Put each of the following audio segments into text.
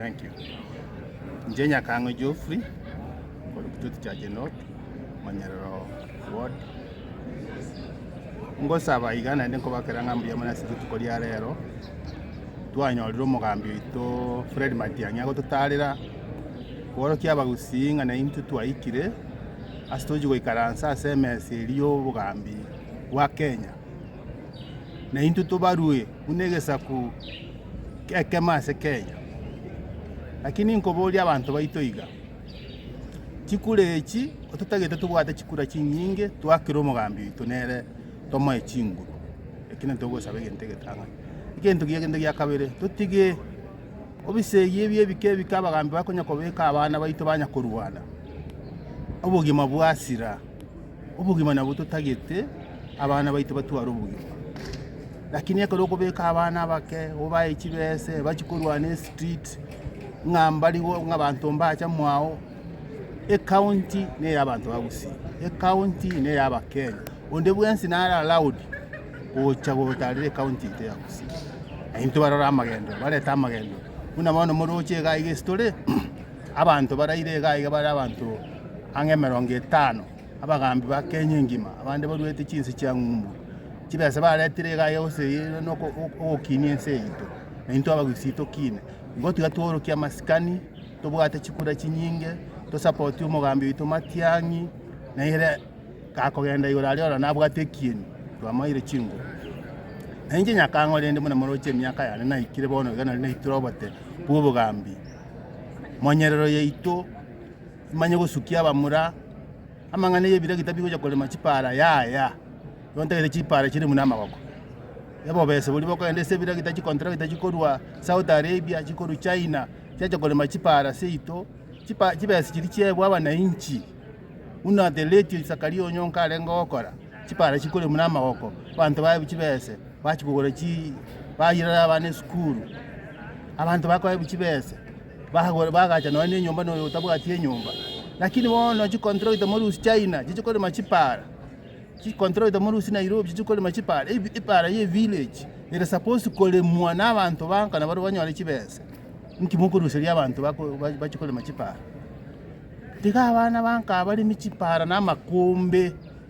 Thank you. Inche Nyakang'o Geoffrey, korwa Kitutu Chache North, Manyerero Ward. Ngosaba iga naende nkobakera ng'a mbuya mono ase rituko ria rero, twanyorire omogambi oito Fred Matiang'i agototarera kworokia abagusii ng'a naye intwe twaikire ase tochi goikaransa ase emesa eria y'obogambi bwa Kenya, naintwe tobarwe. buna egesaku gekemo ase kenya. Lakini nkoboria abanto baito iga, chikura echi ototagete tobwate chikura chinyinge twakere omogambi oito nere tomoe chinguru, ekero togosaba egento egetang'ani. Egento kiya egento gia kabere, totige ebisegi ebi ebike ebike abagambi bakonya kobeka abana baito banya korwana, obogima bwasira. Obogima nabwo totagete abana baito batware obogima, lakini ekero okobeka abana abake obae chibese ebachi korwana estreet ng'a mbari ng'a abanto mbacha mwao, ecounty neya abanto ba Gusii, ecounty neya abakenya, onde bwensi nare allowed gocha gotarera ecounty yaito ya Gusii. Naintwe barore amagenderero, barete amagenderero, buna bono moroche iga iga esitore. Abanto baraire iga aiga bare abanto ang'e emerongo etano, abagaambi ba Kenya engima, abande baruete chinse chia ng'umbu. Chibesa baretire iga aiga gose ere noko- o- ogokinia ense yaito, na intwe abagusii tokiine. Igo tiga tworokie amasikani, tobwate chikura chinyinge, tosapotie omogambi oito Matiang'i, na ere gakogenda igoro aria ora nabwate ekieni, twamaire chinguru. Na inche nyakang'o rende buna moroche emiaka yane naikire bono iga nari naitere obote bw'obogambi? monyerero yaito, emanye gosukia abamura, amang'ana y'ebiragi tabigocha korema chipara yaya, igo ntagete chipara chire buna amagoko. Obobese boria bokogenda ase ebiragi tari chikontrakta chikorwa Saudi Arabia, chikorwa China, chiacha korema chipara seito, chipa chibesa chiria chiaebwa abanainchi, buna the late Zakaria Onyonka arenge gokora, chipara chikore buna amagoko, abanto baye chibese. Bachia kogora chi bayirera abana esukuru, abanto bakoewa chibesa, bagora bagacha nonya na enyomba na oyo otabwati enyomba. Lakini bono chicontractor morusie China chichie korema chipaara, chicontractor morusie Nairobi chichie korema chipaara, ebi epaara ya evillage ere supposed koremwa na abanto bankana baria banyore chibesa, inki mokoruseria abanto bako ba- bachie korema chipaara? Tiga abana banka abaremi chipaara na amakombe.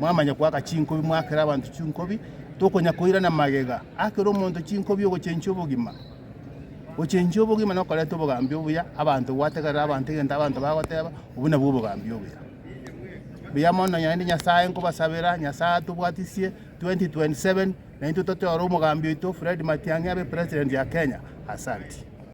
Mwamanya koaka chinkobi, moakere abanto chinkobi, tokonya koirana magega. Akera omonto chinkobi ogochenchia obogima. Gochenchia obogima nokoreta obogambi obuya, abanto gwategerera abanto egento abanto bagoteba, obwo nabwo obogambi obuya. Buya mono naende Nyasaye nkobasabera, Nyasaye atobwatisie 2027 naintwe toteore omogambi oito Fred Matiang'i abe president ya Kenya. Asanti.